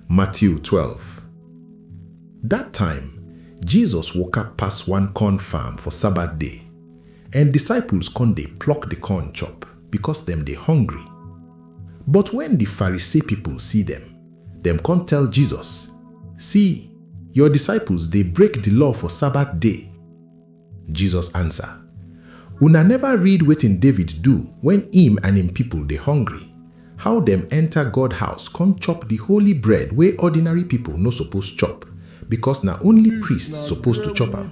Matthew twelve. Dat time, Jesus waka pass one corn farm for Sabbath day. En disciples con dey pluck di corn chop becos dem dey hungry. But wen di Pharisee pipol see dem, dem con tell Jesus, See, your disciples dey break di law for Sabbath day! Jesus ansa, Una neva read wetin David do wen im and im pipo dey hungry, how dem enta God house con chop di holy bread wey ordinary pipo no suppose chop, becos na only priests suppose to chop am?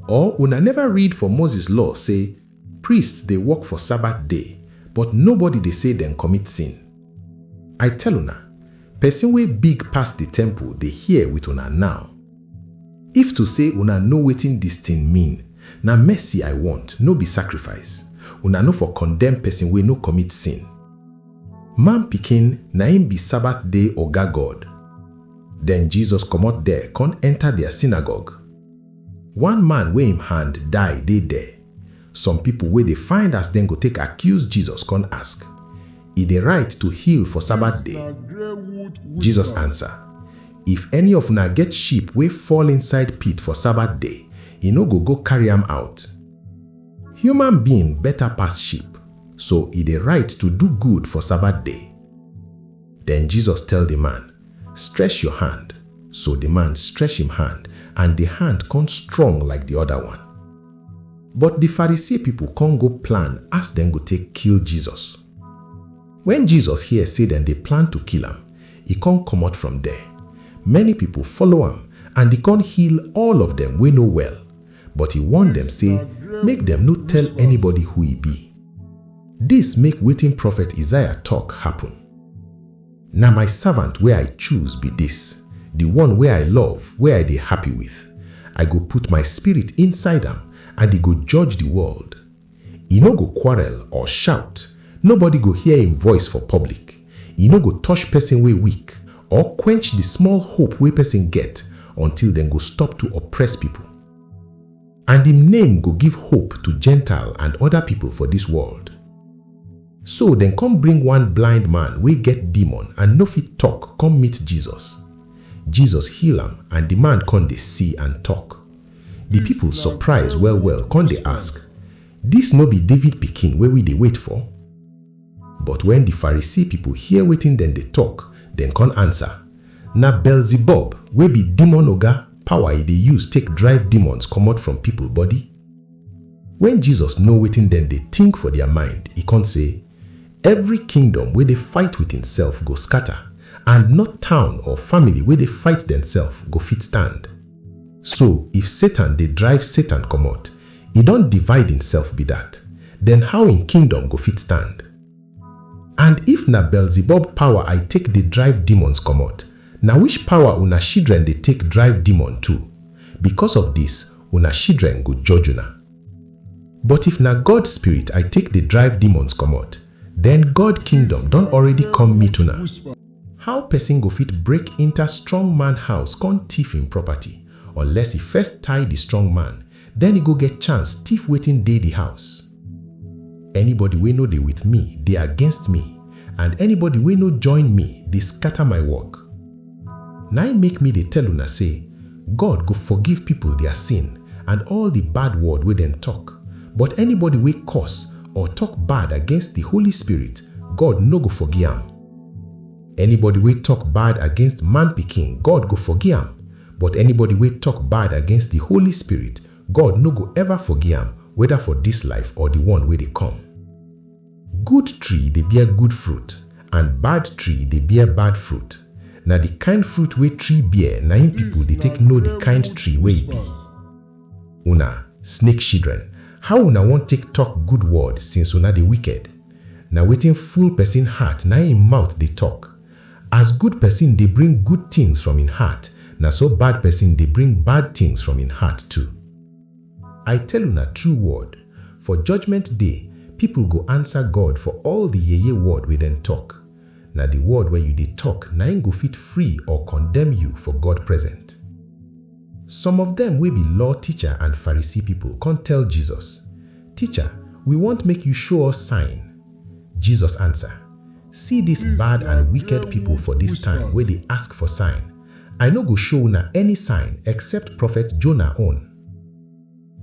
Or una neva read for Moses Law sey Priests dey work for Sabbath day, but nobody dey say dem commit sin. I tell una, Pesin wey big pass di temple dey here with una now. If to say una know wetin dis tin mean, na mercy I want, no be sacrifice, una no for condemn pesin wey no commit sin. Man Pikin na im be Sabbath day Oga God. Den Jesus comot there con enter dia synagogue. One man wey im hand die dey der. Some pipol wey dey find as dem go take akiuz Jisos kon ask, E dey rite to heal for Sabat day? Jisos ansa, If any of una get sheep wey fall inside pit for Sabat day, e no go go karry am out? Human being beta pass sheep, so e dey rite to do gud for Sabat day. Den Jesus tell di man, Stretch your hand. So di man stretch im hand, and di hand kon strong like di oda one. But di Farisee pipol kon go plan as dem go take kill Jesus. Wen Jesus hear sey dem dey plan to kill am, e kon komot from der. Many pipol follow am, and e kon heal all of dem wey no well. But e warn dem sey make dem no tell anybody who e bi. Dis make wetin profet Isaya tok happun, Na my savant wey I choose be dis, di one wey I love, wey I dey happy wit. I go put my Spirit inside am and e go judge di world. E no go quarrel or shout, nobody go hear im voice for public. E no go touch pesin wey weak or quench di small hope wey pesin get until dem go stop to oppress pipo. And im name go give hope to Gentile and oda pipo for dis world. So dem come bring one blind man wey get demon and no fit tok come meet Jesus. Jesus heal am and di man come dey see and tok. Di pipo surprise well-well come dey ask, Dis no be David pikin wey we dey wait for? But wen di Pharisee pipo hear wetin dem dey tok, dem con ansa, Na Beelzebub, wey bi demon oga, pawa e dey use take drive demons komot from pipo body. Wen Jesus know wetin dem dey tink for dia mind, e con sey, Evry kingdom wey dey fight wit imsef go skata, and no town or family wey dey fight demsef go fit stand. So, if Satan dey drive Satan komot, E don divide imsef be dat, den how im kingdom go fit stand? And if na Beelzebub pawa I take dey drive demons komot, na wish pawa una shidren dey take drive demon too? Bikos of dis, una shidren go judge una. But if na God Spirit I take dey drive demons komot, den God kingdom don already kom meet una. How pesin go fit break inter strong man house kon tiff im property, unless e first tie di strong man, Den e go get chance tif wetin dey di house. Anybody wey no dey with me dey against me, and anybody wey no join me dey scatter my work. Na im make me dey tell una sey, God go forgive pipol dia sin and all di bad word wey dem tok, but anybody wey curse or tok bad against di Holy Spirit, God no go forgi am. Anybody wey tok bad against man pikin, God go forgi am, but anybody wey tok bad against di Holy Spirit, God no go ever forgi am, weda for dis life or di one wey dey come. Good tree dey bear good fruit, and bad tree dey bear bad fruit. Na di kind fruit wey tree bear na im pipo dey take know di kind tree wey e be. Una, snake shidren, how una won take tok good word since una dey wiked? Na wetin full pesin heart na im im mouth dey tok. As good pesin dey bring good tins from im heart, na so bad pesin dey bring bad tins from im heart too. I tell una true word, for judgment day, pipol go ansa God for all di yeye word wey dem tok. Na di word wey yu dey tok na im go fit free or kondemn yu for God present. Some of dem wey be law teacher and Pharisee pipol kon tell Jesus, Teacher, we wont make yu show us sign. Jesus ansa, Si dis bad and wiked pipol for dis time wey dey ask for sign, I no go show una any sign except profet Jonah own.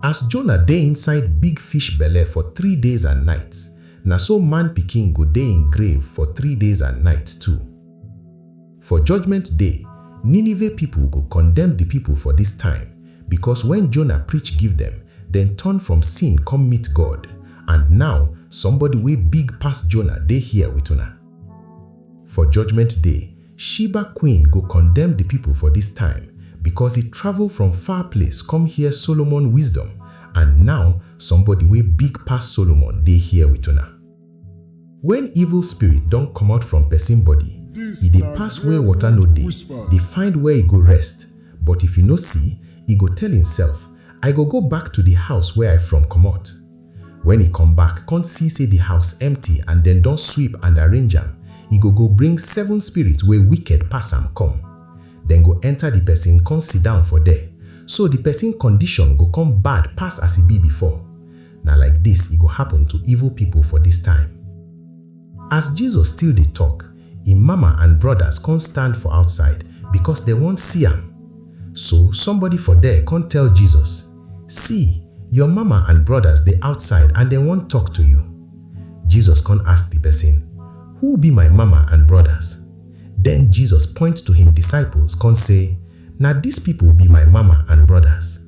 As Jonah dey inside big fish belle for three days and nights, na so Man Pikin go dey in grave for three days and nights too. For Judgment Day, Nineveh pipol go kondemn di pipol for dis time, bikos wen Jonah preach give dem, dem turn from sin kom meet God, and naw, sombody wey big pass Jonah dey here with una. For Judgment Day, Sheba Queen go kondemn di pipol for dis time, bikos e travel from far place kom hear Solomon wisdom, and naw, sombody wey big pass Solomon dey here with una. Wen evil spirit don comot from pesin body, e dey pass where water no dey, dey find where e go rest, but if e no see, e go tell imself, I go go back to di house where I from comot. Wen e come back con see say di house empty and dem don sweep and arrange am, e go go bring seven spirit wey wicked pass am come. Dem go enter di pesin con sidown for there, so di pesin condition go con bad pass as e be before. Na like dis e go happen to evil pipo for dis time. As Jesus still dey tok, im mama and brodas con stand for outside becos dem wan see am. So somebody for there con tell Jesus, See, your mama and brodas dey outside and dem wan tok to you. Jesus con ask di pesin, Who be my mama and brodas? Den Jesus point to im disciples con say, Na dis pipo be my mama and brodas.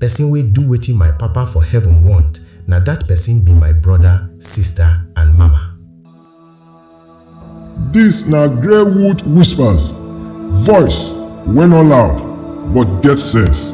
Pesin wey do wetin my Papa for heaven want, na dat pesin be my broda, sista, and mama. Dis na Greywood Whispers, voice wey no loud but get sense.